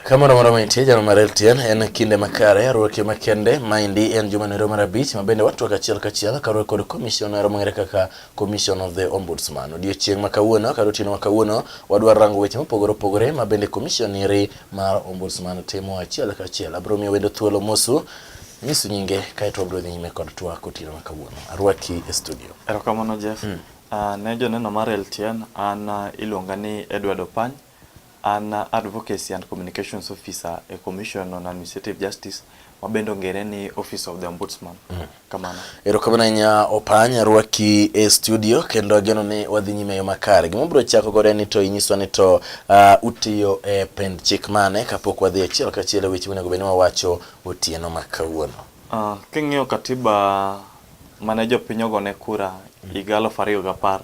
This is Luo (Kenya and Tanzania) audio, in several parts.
Kamano moro mantie jano mar LTN en kinde makare ruoke makende maendi en juma nero mar abich ma bende watwak achiel kachiel karuok kod commissioner mong'ere kaka commission of the ombudsman. Odiochieng' ma kawuono kata otieno ma kawuono wadwaro rango weche mopogore opogore ma bende commission eri mar ombudsman timo achiel ka achiel. Abiro miyo wendo thuolo mosu nyisu nyinge kaeto wabiro dhi nyime kod twak otieno ma kawuono. Arwaki e studio. Erokamano Jeff. Mm. Uh, ne joneno mar LTN an uh, iluonga ni Edward Opany. An uh, advocacy and communications officer e Commission on Administrative Justice ma bende ongere ni Office of the Ombudsman. Mm. Kamano. Erokamano ahinya Opanya rwaki e studio kendo ageno ni wadhi nyime yo makare. Gima bro chako godo en ni to inyiswa ni to uh, utiyo e pend chik mane kapok wadhi achiel kachiel e weche monego bed ni wawacho otieno ma kawuono. Uh, king'iyo katiba mane jopiny ogone kura higa aluf ariyo gapar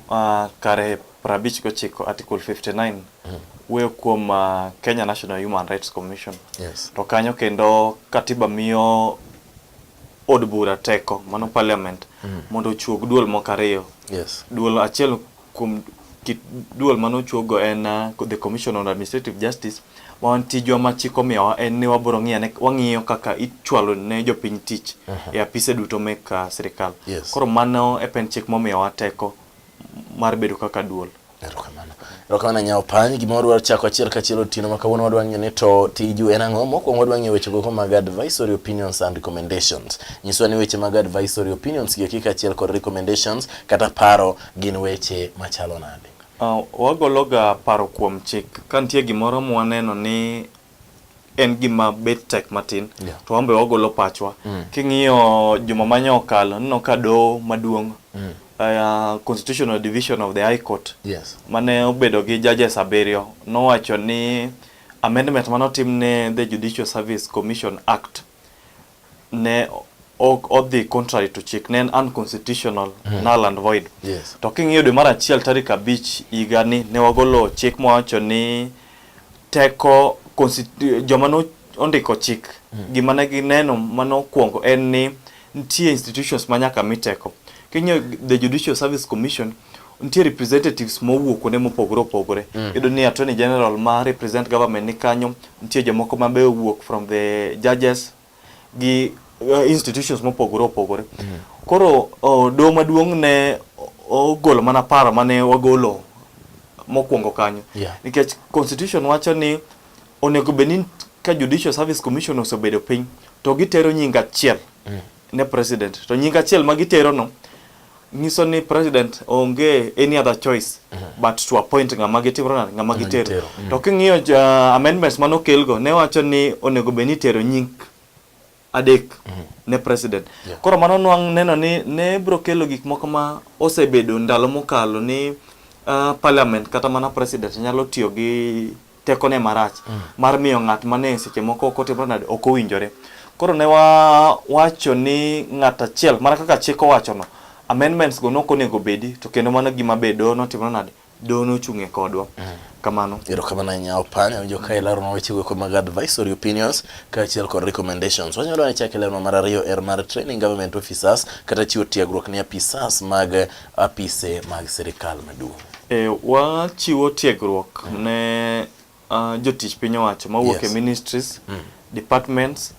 Uh, kare 59 article 59 mm. wuoyo kuom uh, Kenya National Human Rights Commission yes. to kanyo kendo katiba miyo od bura teko mano parliament mm. mondo ochuog duol moko ariyo yes. duol achiel kuom kit duol mano ochuogo en uh, the commission on administrative justice Wan tijwa ma chik omiyowa en ni wabiro ng'iyo ane, wang'iyo kaka ichwalo ne jopiny tich e apise duto mek ah, sirkal. Yes. Koro mano e pen chik momiyowa teko mar bedo kaka duol. Erokamano. Erokamano nyawo pany. Gima wadwaro chako achiel kachiel otieno ma kawuono wadwa ng'eyo ni to tiju en ang'o? Mokwongo wadwa ng'eyo weche gogo mag advisory opinions and recommendations. Nyiswa ni weche mag advisory opinions gi eki kaachiel kod recommendations kata paro gin weche machalo nade? Wagologa paro kuom chik ka nitie gimoro mwaneno ni en gima bet tek matin yeah. to wambe wagolo pachwa mm. king'iyo juma manya okalo nino ka doho maduong' mm. uh, constitutional division of the high court yes. mane obedo gi judges abiriyo nowacho ni amendment mane otim ne the judicial service commission act ne ok odhi contrary to chik ne en unconstitutional mm. null and void yes. to king'iyo dwe mar achiel tarik abich higani ne wagolo chik mawacho ni teko joma ne ondiko chik mm. gima ne gineno mane okwongo en ni nitie institutions ma nyaka mi teko king'iyo the judicial service commission nitie representatives mowuok kuonde mopogore opogore mm. iyudo ni attorney general ma represent government ni kanyo nitie jomoko ma be owuok from the judges gi uh, institutions mopogore opogore mm. koro uh, doho maduong' ne ogolo mana paro mane wagolo mokwongo kanyo yeah. nikech constitution wacho ni onego bed ni ka judicial service commission osebedo piny to gitero nying achiel mm. ne president to nying achiel ma giterono nyiso ni president onge any other choice but to appoint ng'ama gitero nade ng'ama gitero gitero. to king'iyo ja- amendments mane okelgo ne wacho ni onego bed ni itero nying adek ne president Yeah. koro mano nwang' neno ni ne biro kelo gik moko ma osebedo ndalo mokalo ni ah, parliament kata mana president nyalo tiyo gi tekone marach mm. mar miyo ng'at mane seche moko ok otimre nade ok owinjore koro ne wawacho ni ng'at achiel mana kaka chik owachono amendments go nok onego bedi to kendo mano gima be doho notimre nade doho nochung'e kodwa mm. kamano erokamano ahinya opanya winjo ka ileronwa wechego eko mag advisory opinions kaachiel kod recommendations wanyalo ane chak ileronwa mar ariyo er mar training government officers kata chiwo tiegruok ne apisas mag apise mag sirkal maduong'. E, wachiwo tiegruok mm. ne uh, jotich piny owacho mawuok yes. e ministries mm. departments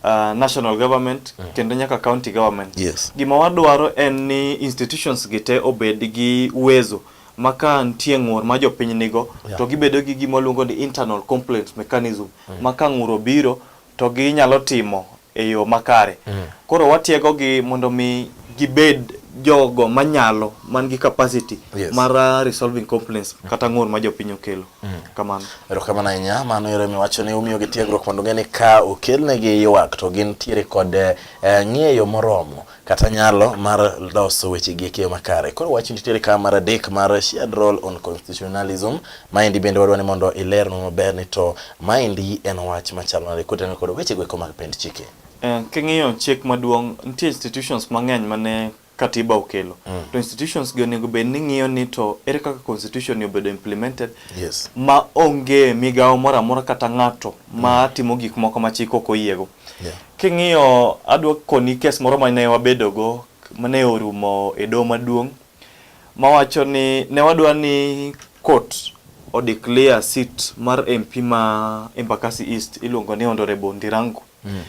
Uh, national government mm. kendo nyaka county government yes. Gima wadwaro en ni institutions gi te obed gi uwezo ma ka nitie ng'ur ma jopiny nigo yeah. to gibedo gi gima luongo ni internal complaint mechanism mm. ma ka ng'ur obiro to ginyalo timo e yo makare. Mm. Koro watiegogi mondo mi gibed jogo manyalo man gi capacity yes. mar uh, resolving complaints mm. kata ng'ur ma jopiny okelo mm. kamano erokamano ahinya mano ero miwacho ni umiyo gi tiegruok mondo ng'e ni ka okelnegi ywak to gin tiere kod eh, ng'eyo moromo kata nyalo mar loso weche gi ekeyo makare. Koro wach nitiere ka mar adek mar shared role on constitutionalism. Maendi bende wadwa ni mondo ilernwa maber ni to maendi en wach machalo nade kotenore kod weche go eko mag pend chike. Eh, king'iyo chik maduong' nitie institutions mang'eny mane katiba okelo mm. to institutions gi onego bed ni ng'iyo ni to ere kaka constitution ni obedo implemented yes. ma onge migawo moro amora kata ng'ato mm. ma timo gik moko ma chik ok oyiego Yeah. King'iyo adwa koni kes moro ma ne wabedogo ma ne orumo e doho maduong' mawacho ni ne wadwa ni court o declare seat mar MP ma Embakasi East iluongo ni Honorable Ndirangu. Mm.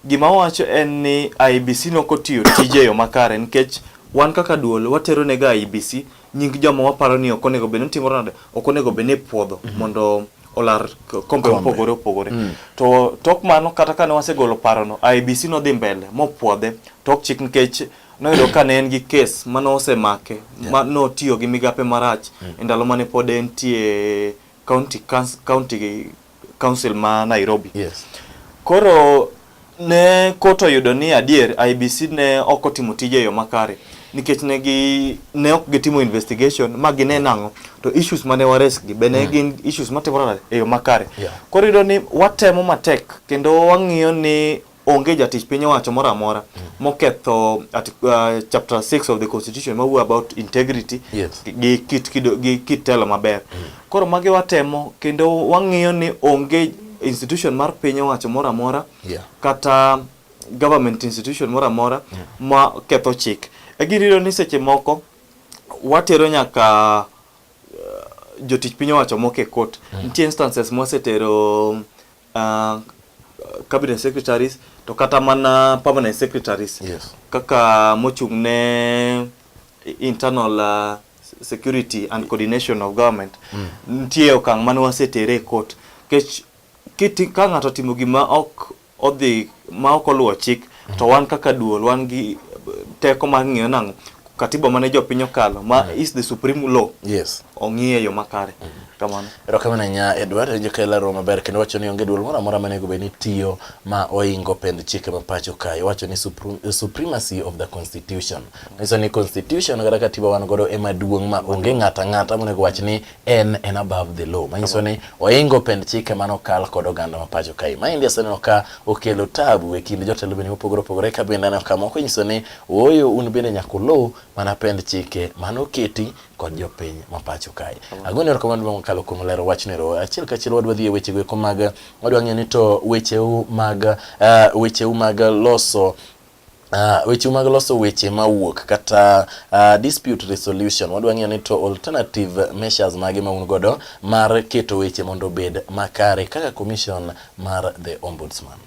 Gima wacho en ni IBC nokotiyo tije yo makare nikech wan kaka duol watero ne ga IBC nying joma waparo ni ok onego bed ni timore nade ok onego bed ni ipuodho mondo olar k- kombe mopogore opogore to tok mano kata kane wasegolo parono IBC nodhi mbele mopwodhe tok chik nikech noyudo ka ne en gi kes mane osemake ma notiyo gi migape marach e ndalo mane pod entie county council- county Council ma Nairobi. Yes. Koro ne koto yudo ni adier IBC ne ok otimo tije e yo makare nikech ne gi ne ok gitimo investigation ma gine nang'o to issues mane wares gi be ne mm. gin issues matimore e yo makare. Yeah. Koro yudo ni watemo matek kendo wang'iyo ni onge jatich piny owacho moro amora moketho uh, chapter 6 of the constitution mawuo about integrity yes. gi kit kido gi kit telo maber mm. koro magi watemo kendo wang'iyo ni onge institution mar piny owacho moro amora yeah. kata government institution moro amora yeah. ma ketho chik egiriro ni seche moko watero nyaka uh, jotich piny owacho moko e court mm. nitie instances mwasetero um, uh, cabinet secretaries to kata mana permanent secretaries yes. kaka mochung' ne internal uh, security and coordination of government mm. nitie okang' mane wasetere e court kech ka ng'ato timo gima ok odhi ma ok oluwo chik to wan kaka duol wan gi teko mar ng'iyo nang'o katiba mane jopiny okalo ma mm. is the supreme law yes ong'iye yo makare mm. kamano erokamano nya edward enjo ka ilaro maber kendo wacho ni onge duol moro amora manego bed ni tiyo ma oingo pend chike ma pacho kae wacho ni supremacy of the constitution nyiso ni constitution kata katiba wan godo ema duong' ma onge ng'ata ng'ata monego wach ni en en above the law manyiso ni oingo pend chike mane okal kod oganda ma pacho kae. Maendi aseneno ka okelo tabu e kind jotelo bende mopogore opogore ka bende aneno ka moko nyiso ni ooyo un bende nyaka uluw mana pend chike mane oketi kod jopiny ma pacho kae. Agone erokamano maduong' mokalo kuom lero wachno ero. Achiel kachiel wadwa dhi e wechego eko mag wadwa ng'eyo ni to wecheu mag uh, wecheu mag loso Uh, weche mag loso weche mawuok kata uh, dispute resolution wadwa ng'eyo ni to alternative measures mage ma un godo mar keto weche mondo obed makare kaka commission mar the ombudsman.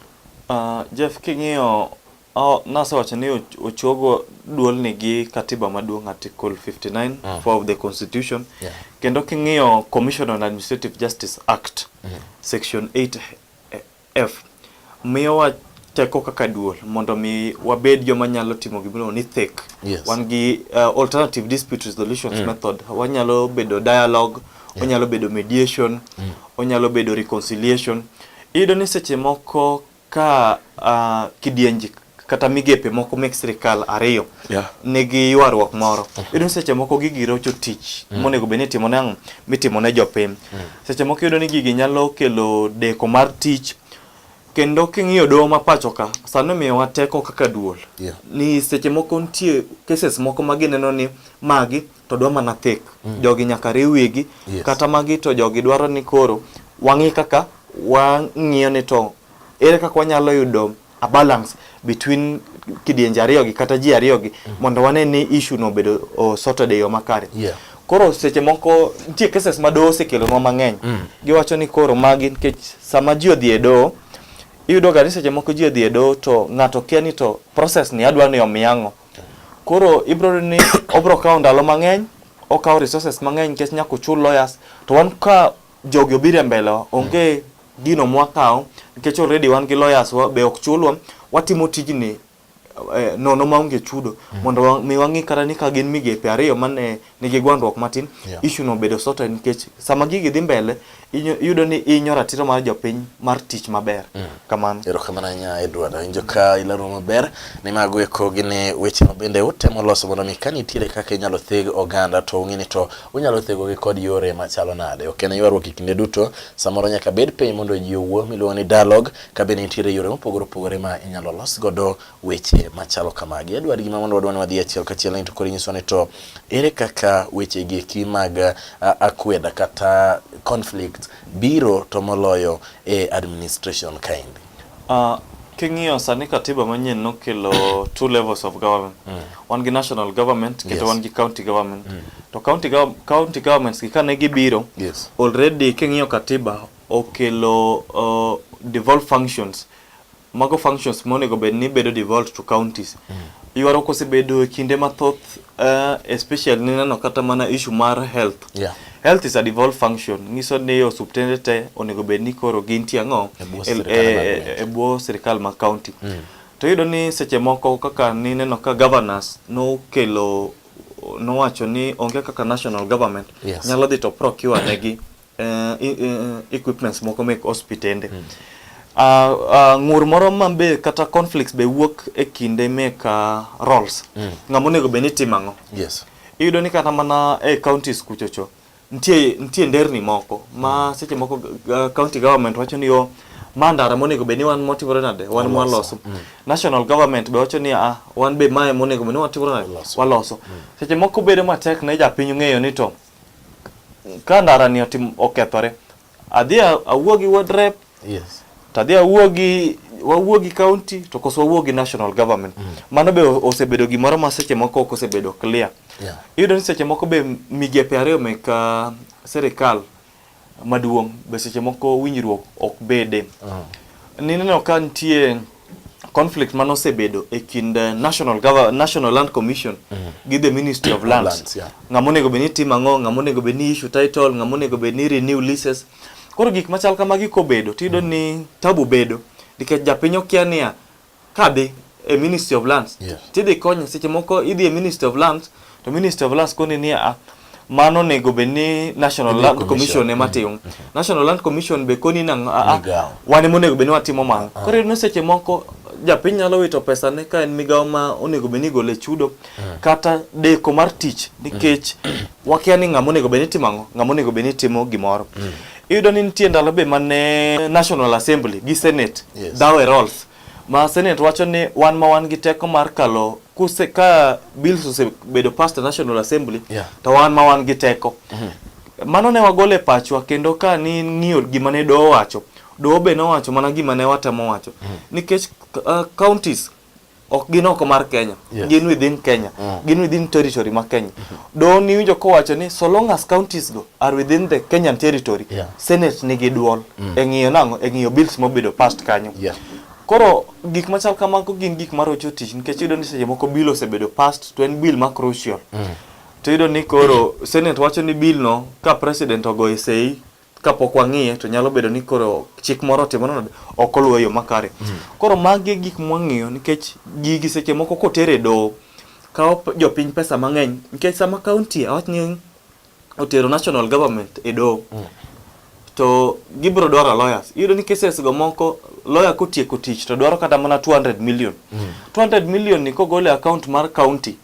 Uh, Jeff king'iyo oh, nasewacho ni ochogo duol ni gi katiba maduong' article 59 mm. Ah. for of the constitution yeah. kendo king'iyo commission on administrative justice act mm. section 8 F. Miyowa teko kaka duol mondo mi wabed joma nyalo timo gimoro ni thick. Yes. Wan gi uh, alternative dispute resolutions mm. method. Wanyalo bedo dialogue, yeah. onyalo bedo mediation, mm. onyalo bedo reconciliation. Iyudo ni seche moko ka uh, kidienje kata migepe moko mek sirkal ariyo yeah. nigi ywaruok moro uh -huh. iyudo ni seche moko gigi rocho tich mm. monego bed ni itimo ne ang'o mitimo ne jopiny mm. seche moko iyudo ni gigi nyalo kelo deko mar tich kendo king'iyo doho ma pacho ka sani miyowa teko kaka duol yeah. ni seche moko nitie cases moko ma gineno ni magi to dwa mana thik mm. jogi nyaka riw wigi yes. kata magi to jogi dwaro ni koro wang'i kaka wang'iyo ni to ere kaka wanyalo yudo a balance between kidienje ariyo gi kata ji ariyo gi mm. mondo wane ni issue no obedo sorted e yo makare. Yeah. Koro seche moko nitie cases ma doho osekelonwa mang'eny. Mm. Giwacho ni koro magi nikech sama ji odhi e doho iyudo ga ni seche moko ji odhi e doho to ng'ato kia ni to process ni adwa ni omiya ang'o. Koro ibro ni obro kawo ndalo mang'eny, okawo resources mang'eny nikech nyaka ochul lawyers to wan ka jogi obiro e mbele onge gino mwakawo nikech already wan gi lawyers wa be ok chulwa watimo tijni eh, nono maonge chudo mondo wa- mi wang'i kata ni ka gin migepe ariyo mane nigi gwandruok matin Yeah. issue no bedo sorted nikech sama gigi dhi mbele inyo- iyudo ni inyo ratiro mar jopiny mar tich maber kamano. Erokamano ahinya Edward, awinjo ka ilero maber ni mago eko gin e weche ma bende utemo loso mondo mi ka nitiere kaka inyalo theg oganda to ung'e ni to unyalo thegogi kod yore machalo nade. Ok en ywaruok e kinde duto, samoro nyaka bed piny mondo ji owuo miluongo ni dialogue ka bende nitiere yore mopogore opogore ma inyalo los godo weche machalo kamagi. Edward, gima mondo wadwa ni wadhi achiel kachiel ni to koro inyiso ni to ere kaka wechegi eki mag akweda kata conflict biro to moloyo e administration kaendi? Uh, king'iyo sani katiba manyien nokelo two levels of government mm. wan gi national government kendo yes. wan gi county government mm. to county, go county governments gi kane gibiro yes. already king'iyo katiba okelo uh, devolve functions Mago functions monego bed ni bedo devolved to counties. Ywaruok osebedo e kinde mathoth uh, especially nineno kata mana issue mar health. Yeah. Health is a devolved function. Nyiso ni osuptende te onego bed ni koro gintie ang'o E bwo e- sirkal e- mar e- county. e bwo sirkal ma county. To iyudo ni seche moko kaka nineno ka governors nokelo nowacho ni onge kaka national government Yes. nyalo dhi to procure negi uh, uh, equipments moko mek hospitende mm. uh, uh, ng'ur moro ma be kata conflicts be wuok e kinde mek uh, roles mm. ng'ama onego bed ni timo ang'o yes. iyudo ni kata mana e eh, counties kuchocho nitie nitie nderni moko ma mm. seche moko uh, county government wacho ni yo ma ndara monego bed ni wan motimore nade wan mwaloso mm. national government be wacho ni ah, wan be mae monego bed ni watimore nade waloso mm. seche moko bedo matek ne japiny ng'eyo ni to ka ndarani otim okethore adhi a- awuo gi ward rep yes to adhi awuo gi wawuo gi county to koso wawuo gi national government mano be o- osebedo gimoro ma seche moko ok osebedo clear Yeah. iyudo ni seche moko be migepe ariyo mek ah, sirikal maduong' be seche moko winjruok ok bede. Nineno ka nitie conflict mane osebedo e kind eh, National, Gov- National Land Commission gi the Ministry of Lands. Lands, yeah. Ng'ama onego bed ni timo ang'o, ng'ama onego bed ni issue title, ng'ama onego bed ni renew leases. Koro gik machal kamagi kobedo tiyudo ni tabu bedo nikech japiny okia niya kadhi e ministry of lands yes. tidhi konye seche moko idhi e ministry of lands to ministry of lands koni ni a mano onego bed ni national land commission, commission ema mm-hmm. timo mm -hmm. national land commission be koni nang a wan ema onego bed ni watimo mano uh ah. -huh. koro iyudo seche moko japiny nyalo wito pesa ne ka en migawo ma onego bed ni igole chudo uh ah. -huh. kata deko mar tich nikech uh mm. -huh. wakia ni ng'ama onego bed ni timo ang'o ng'ama onego bed ni timo gimoro uh mm. -huh. Iyudo ni nitie ndalo be mane National Assembly gi Senate yes. dawe roles ma Senate wacho ni wan ma wan gi teko mar kalo kuse ka bills osebedo past National Assembly yeah. to wan ma wan gi teko mm -hmm. mano ne wagole pachwa kendo ka ni ng'iyo gima ne doho wacho doho be nowacho mana gima ne watemo wacho mm -hmm. nikech uh, counties ok gin oko mar Kenya yes. gin within Kenya mm. gin within territory ma Kenya mm -hmm. do ni winjo ko wacho ni so long as counties go are within the Kenyan territory yeah. senate nigi duol mm. e ng'iyo nango e ng'iyo bills mobedo past kanyo yeah. koro gik machal kamago gin gik marocho tich nikech yudo ni seche moko bill osebedo past to en bill ma crucial mm. to yudo ni koro senate wacho ni bill no ka president ogoye sei kapok wang'iye to nyalo bedo ni koro chik moro otimo nade ok oluwe yo makare koro magi e gik mwang'iyo nikech gigi seche moko koter e doho kawo p- jopiny pesa mang'eny nikech sama kaunti awach ni otero national government e doho to gibiro dwaro lawyers iyudo ni cases go moko lawyer kotieko tich to dwaro kata mana 200 million 200 million ni kogole account mar county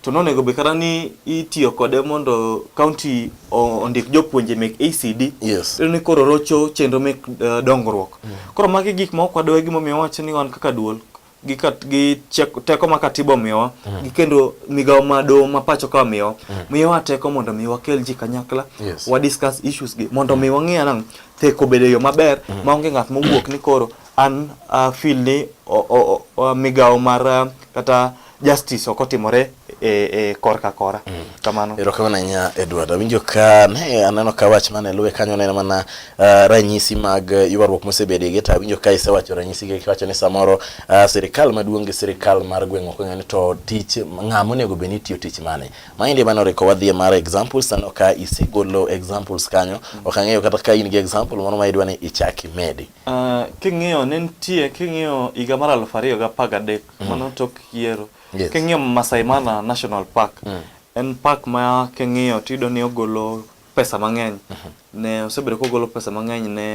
To nonego be kata ni itiyo kode mondo kaunti ondik jopuonje mek ACD. Yes. Ni koro rocho chenro mek uh, dongruok. Mm. Koro magi gik ma ok wadwa e gimomiyo wacho ni wan kaka duol gi kat gi teko ma katiba omiyowa mm. gi kendo migawo ma doho ma pacho ka miyowa mm. miyowa teko mondo mi wakel ji kanyakla yes. wa discuss issues gi mondo mi wang'e anang' theko bedo yo maber mm. ma onge ng'at mowuok ni koro an uh, feel ni o, o, o, migawo mar uh, kata justice ok otimore e, e korka kora mm. kamano erokamano ahinya Edward awinjo ka ne aneno ka wach mane luwe kanyo neno mana uh, ranyisi mag ywaruok mosebede gi to awinjo ka isewacho ranyisi gi kiwacho ni samoro uh, sirikal maduong' gi sirikal mar gweng' ok ong'eyo ni to tich ng'a monego bed ni tiyo tich mane maendi mane oriko wadhie mar examples aneno ka isegolo examples kanyo mm. ok ang'eyo kata ka in gi example moro ma idwa ni ichak imedi Uh, king'iyo ne nitie king'iyo higa mar aluf ariyo ga apar gadek mm. mano tok yiero yes. king'iyo Masai Mara National Park mm. en park ma king'iyo tiyudo ni ogolo pesa mang'eny mm -hmm. ne osebedo kogolo pesa mang'eny ne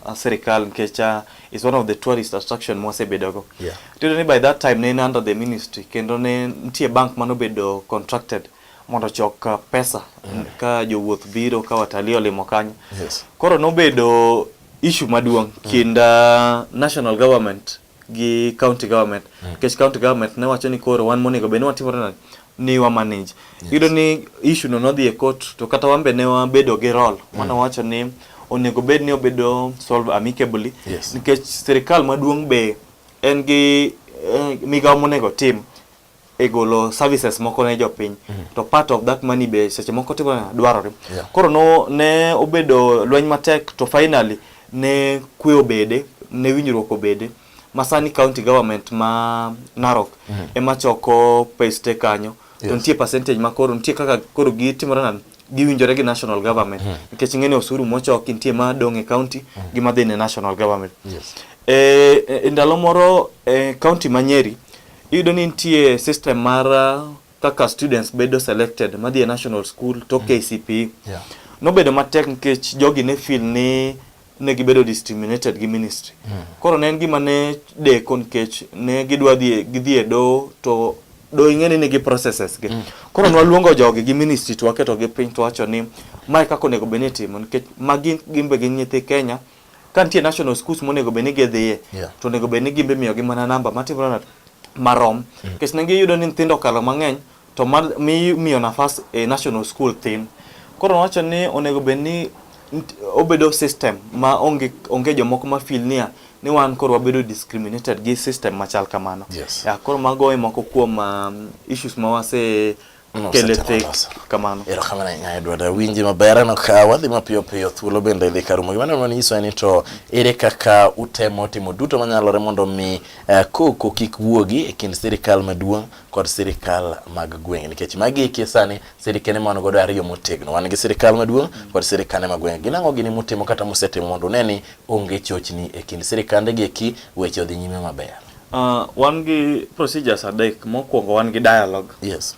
uh, sirikal nikech uh, is one of the tourist attraction mwasebedogo yeah. tiyudo ni by that time ne in under the ministry kendo ne nitie bank manobedo contracted mondo chok uh, pesa mm. ka jowuoth biro ka watalii olimo kanyo yes. koro nobedo issue maduong' mm. kind uh, national government gi county government mm. nikech mm. county government ne wacho ni koro wan monego bed ni watimore nade ni wa manage yes. yudo ni issue no nodhi e court to kata wambe ne wabedo gi role mm. mana wacho ni onego bed ni obedo solve amicably yes. nikech sirikal maduong' be en gi eh, migawo monego tim e golo services moko ne jopiny mm -hmm. to part of that money be seche moko timo dwarore yeah. koro no ne obedo lweny matek to finally ne kwe obede ne winjruok obede masani county government ma Narok mm -hmm. ema choko pes te kanyo yes. to nitie percentage ma koro nitie kaka koro gitimore nani giwinjore gi national government mm -hmm. nikech ng'eni osuru mochoki nitie ma dong' e county mm -hmm. gi madhi ne national government yes. e, e, e ndalo moro e, county ma Nyeri Iyudo ni nitie system mar uh, kaka students bedo selected madhi e national school to mm. KCPE. Yeah. Nobedo matek nikech jogi ne feel ni ne gibedo discriminated gi ministry. Mm. Koro ne en gima ne deko nikech ne gidwa dhi gidhi e do to do ing'eni nigi processes gi. Mm. Koro nwaluongo jogi gi ministry to waketo gi piny to wacho ni mae kaka onego bed ni itimo nikech magi gin be gin nyithi Kenya ka nitie national schools monego bed ni gidhiye yeah. to onego bed ni gimbe miyogi mana namba matimore marom mm. nikech mm. ne giyudo ni nyithindo okalo mang'eny to miyo nafas e national school thin koro nowacho ni onego bed ni obedo system ma onge, onge jomoko ma feel niya ni wan koro wabedo discriminated gi system machal kamano yes. yeah, koro mago e moko kuom um, issues ma wase Kele tek kamano. Erokamano ahinya Edward awinji maber aneno ka wadhi mapiyo piyo thuolo bende dhi karumo. Gima neno nyiso ni to ere kaka utemo timo duto manyalore mondo mi eh, koko kik wuogi e kind sirikal maduong' kod sirikal mag gweng' nikech magi eki sani sirikene man godo ariyo motegno wan gi sirikal maduong' kod sirikane mag gweng' gin ang'o gini mutimo kata musetimo mondo une ni onge chochni e kind sirikande gi eki weche odhi nyime maber. Uh, wan gi procedures adek. Mokwongo wan gi dialogue. Yes.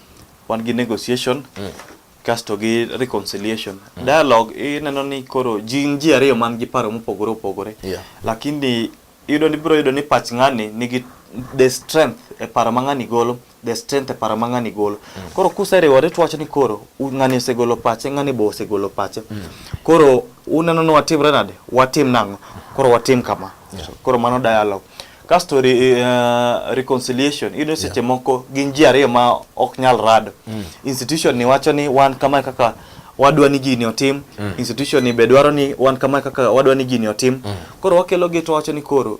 Wan gi negotiation. Mm. Kasto gi reconciliation. Mm. Dialogue ineno ni koro jin ji ariyo man gi paro mopogore opogore. Yeah. Lakini yudo ni biro yudo ni pach ng'ani nigi the strength e paro ma ng'ani golo. the strength e paro ma ng'ani golo mm. koro kuseriwore to wacho ni koro ng'ani osegolo pache ng'ani be osegolo pache mm. koro uneno ni watimre nade watim nang'o koro watim kama yeah. koro mano dialogue kasto re, uh, reconciliation iyudo seche yeah. moko gin ji ariyo ma ok nyal rado mm. institution ni wacho ni wan kama kaka wadwa ni gini otim mm. institution ni be dwaro ni wan kama kaka wadwa ni gini otim mm. koro wakelo gi to wacho ni koro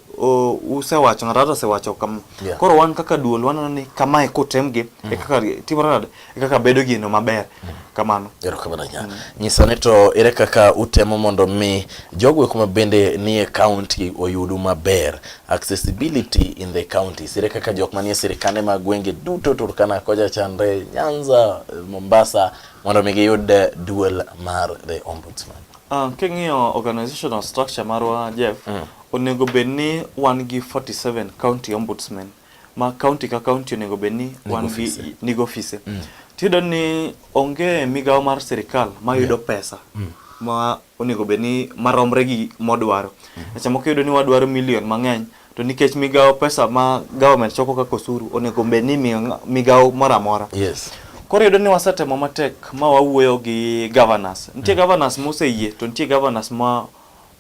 usewacho ng'ato ng'ato osewacho kam yeah. koro wan kaka duol waneno ni kamae kutem gi mm. e kaka timore nade e kaka bedo gino maber mm. kamano erokamano nya mm. nyisa ni to ere kaka utemo mondo mi jogo kuma bende nie county oyudu maber accessibility in the counties ere kaka jok manie sirikande mag gwenge duto Turkana koja chandre Nyanza Mombasa mondo mi giyud eh, duol mar the ombudsman. Uh, king'iyo organizational structure marwa Jeff, mm. onego bed ni wan gi 47 county ombudsman ma county ka county onego bed ni wan gi nigo ofise. Mm. Tiyudo ni onge migawo mar sirikal mayudo yeah. pesa mm. ma onego bed ni maromre gi modwaro. Mm. Seche moko iyudo ni wadwaro milion mang'eny to nikech migawo pesa ma government choko kaka osuru onego bed ni migawo moro amora yes. Koro yudo ni wasetemo matek ma wawuoyo gi governors. Nitie mm. governors moseyie to nitie governors ma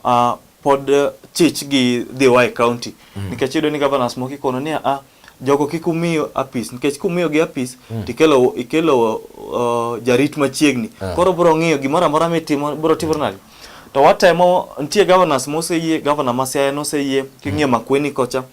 uh, pod chich gi dhiwa e county mm. nikech yudo ni governors moko ikono ni a ah, jogo kik umi apis nikech kumiyo gi apis mm. tikelo ikelo uh, jarit machiegni uh. koro bro ng'iyo gimoro amora mitimo bro timo nadi to watemo nitie governors moseyie governor ma Siaya noseyie king'iyo mm. Makueni kocha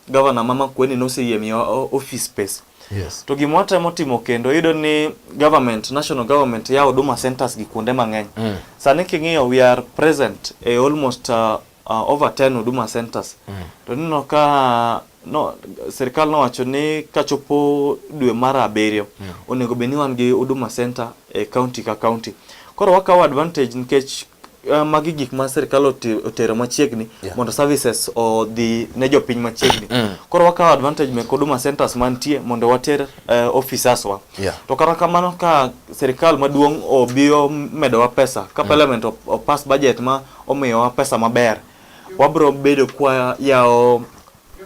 governor ma Makueni noseyie miyo uh, office space Yes. To gima watemo timo kendo yudo ni government, national government ya huduma centers gi kuonde mang'eny. Mm. Sani king'iyo we are present e almost uh, uh, over 10 huduma centers mm. to nino ka no, serikal nowacho ni kachopo dwe mar abiriyo mm. onego bed ni wan gi huduma center e county ka county koro wakawo advantage nikech uh, magi gik ma serikal otero machiegni yeah. mondo services odhi ne jopiny machiegni mm. koro wakawo advantage mek huduma centers mantie mondo water uh, eh, officers wa yeah. to kata kamano ka serikal maduong' obiyo medowa pesa ka mm. parliament opass budget ma omiyowa pesa maber, wabiro bedo kwa yawo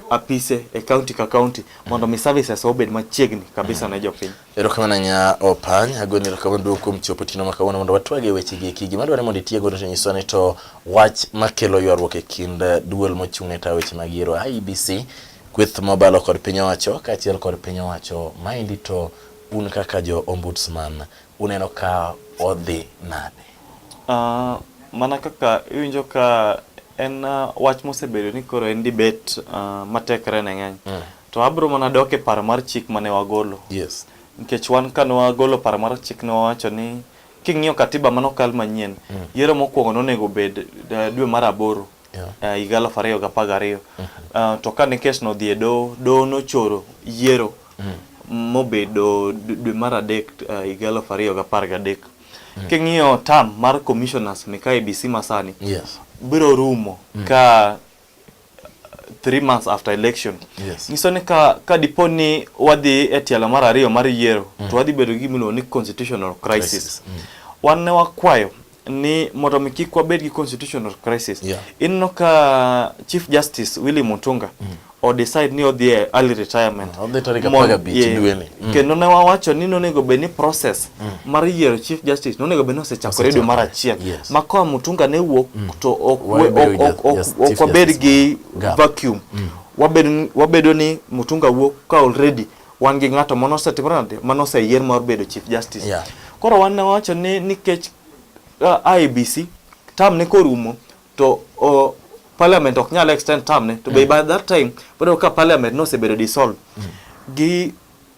apise e county ka county mondo mi services obed machiegni kabisa ne jopiny. Erokamano nya Opany, agoni erokamano duong' kuom chopo tino ma kawuono mondo watwage weche gi eki. Gima dwarore mondo itie godo to nyiso ni to wach makelo ywaruok e kind eh, duol mochung' ne tayo weche mag yiero IEBC, kweth mobalo kod piny owacho kaachiel kod piny owacho. Maendi to un kaka jo ombudsman Uneno ka odhi nade? Uh, mana kaka iwinjo ka en uh, wach mosebedo ni koro en debate uh, matekre ne ng'eny mm. to abro mana dok e paro mar chik mane wagolo yes. nikech wan kane wagolo paro mar chik ne wawacho ni king'iyo katiba mane okal manyien mm. yiero mokwongo nonego bed uh, dwe mar aboro yeah. uh, higa aluf ariyo gi apar gariyo mm -hmm. uh, to kane kesno odhi e doho doho nochoro yiero mm -hmm. mobedo dwe mar adek uh, higa aluf ariyo gi apar gadek mm -hmm. king'iyo tam mar commissioners ni ka ABC masani yes. biro rumo mm -hmm. ka three months after election yes. nyiso ni ka, ka dipo ni wadhi e tielo mar ariyo mar yiero mm. to wadhi bedo gi gimiluongo ni constitutional crisis, crisis. Mm. wan ne wakwayo ni mondo mi kik wabed gi constitutional crisis yeah. Inno ka Chief Justice Willy Mutunga mm. o decide ni odhi e early retirement ah, odhi tarik apar gabich dweni mm. kendo ne wawacho ni nonego bed ni process mm. mar yiero Chief Justice nonego bed ni osechakore dwe mar achiel yes. ma koa Mutunga ne wuok mm. to ok wabed gi vacuum mm. wabedo ni Mutunga wuok ka already wan gi ng'ato mano osetimore nade mano oseyier mar bedo chief justice yeah. koro wan wacho ni nikech uh, IBC tam ne korumo to uh, parliament ok nyal extend tam ne to mm. by that time bado ka parliament no osebedo dissolve mm. gi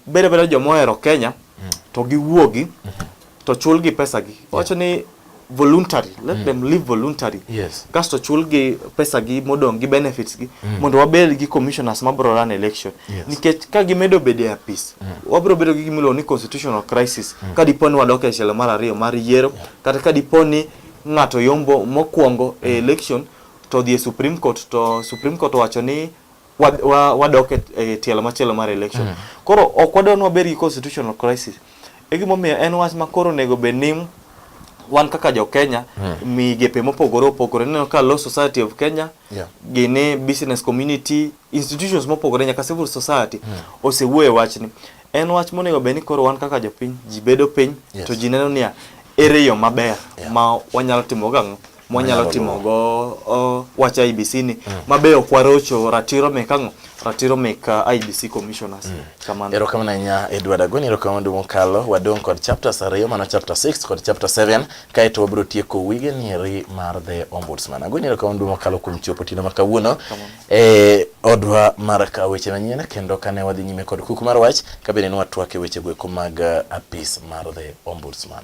bedo bedo joma ohero Kenya mm. to giwuogi mm -hmm. to chulgi pesagi wacho ni voluntary let mm. them live voluntary yes. kasto chulgi pesagi modong' gi benefits gi mm. mondo wabed gi commissioners mabro run election yes. nikech ka gimedo bedo e apis mm. wabro bedo gi gimiluongo ni constitutional crisis mm. ka dipo ni wadok e tielo mar ariyo mar yiero yeah. kata ka dipo ni ng'ato yombo mokwongo e mm. e election to dhi e supreme court to supreme court owacho ni wadok e tielo machielo mar election mm. koro ok wadwa ni wabed gi constitutional crisis e gimomiyo en wach ma koro onego bed ni wan kaka jo Kenya mm. migepe mopogore opogore neno ka Law Society of Kenya yeah. gini business community institutions mopogore nyaka civil society mm. osewuoye wachni en wach monego bed ni koro wan kaka jopiny ji bedo piny yes. to ji neno niya ere yo maber yeah. ma wanyalo timo gang'o mwanyalo timogo uh, wach IBC ni mm. mabe ok warocho ratiro mek ang'o ratiro mek uh, ah, IBC commissioners mm. kamano erokamano ahinya Edward Agoni erokamano duong' kalo wadong' kod chapters ariyo mano chapter 6 kod chapter 7 kaeto wabiro tieko wige nieri mar the ombudsman Agoni erokamano duong' kalo kuom chopo tino ma kawuono e odwa mar ka weche manyien kendo kane wadhi nyime kod kuku mar wach kabende ne watwak e wechego eko mag ah, apis mar the ombudsman